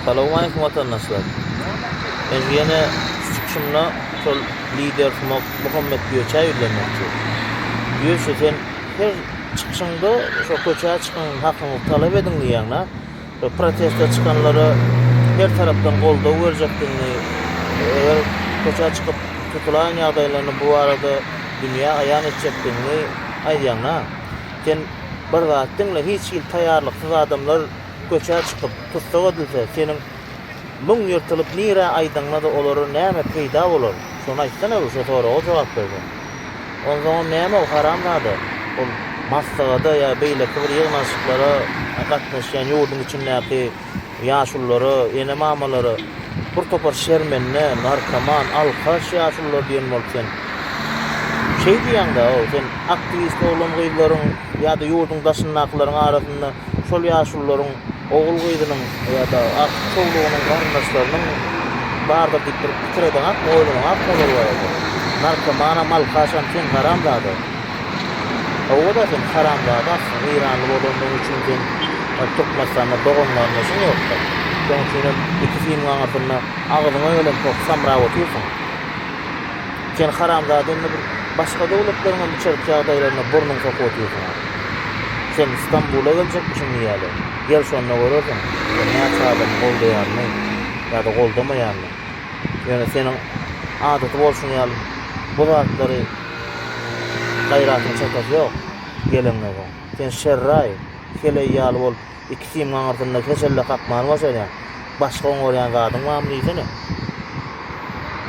Salowmaýkum watandaşlar. Men ýene çykyşymda şol lider Sumok Muhammet Göçä ýüzlenmekçi. Göçe sen her çykyşyňda şo köçä çykyň hakyňyzy talap ediň diýýäňdä. Şo proteste çykanlara her tarapdan goldaw berjekdigiňi eger köçä çykyp tutulaýan ýagdaýlaryny bu arada dünýä aýan etjekdigiňi aýdýaňdä. Sen bir zat diňle, hiç hili taýýarlyksyz adamlar köçä çykyp, tussag edilse, seniň müň ýyrtylyp nirä aýdaňda-da olara näme peýda bolar? Şony aýtsana-u, şo soraga jogap berseň. Onsoňam näme-u, haramzada, ol maslahada ýa beýleki bir ýygnanyşyklara gatnaşýan ýurduň içindäki ýaşululara, ene-mamalara bir topar şermende, narkoman, alkaş ýaşulular diýen bolup sen şeý diýýäň-dä-ow, sen aktiwist oglan-gyzlaryň ýa-da ýurduň daşyndakylaryň arasynda şol ýaşulularyň ogul-gyzynyň ýa-da agtyk çowlugynyň garyndaşlarynyň bardyr diýip bir pikir edeňakmy, oýlanaňakmy olar barada? Narkomanam, alkaşam sen haramzada! Hawa-da sen haramzada aslynda eýranly bolandygyň üçin sen Türkmenistanda doganlaryndasyň ýoksa. Şoň üçinem iki siniň aňyrsynda agzyňa gelen pok samra otyrsyň. Sen haramzada indi bir başga döwletleriň hem içerki ýagdaýlaryna burnuňy sokup otyrsyň. Sen Stambula geljekmişiň diýýäler. Gel şonda görersiň sen näçe adamyň goldaýanyny ýa-da goldamaýanyny. Ýöne seniň adaty bolşuň ýaly bu zatlary Gaýratyň çakasy ýok geleňňege. Sen şerraý, heleý ýaly bolup, iki simňiň aňyrsynda heşelle kakmaly başarýaň. Başga oňarýan zadyň barmy diýsene?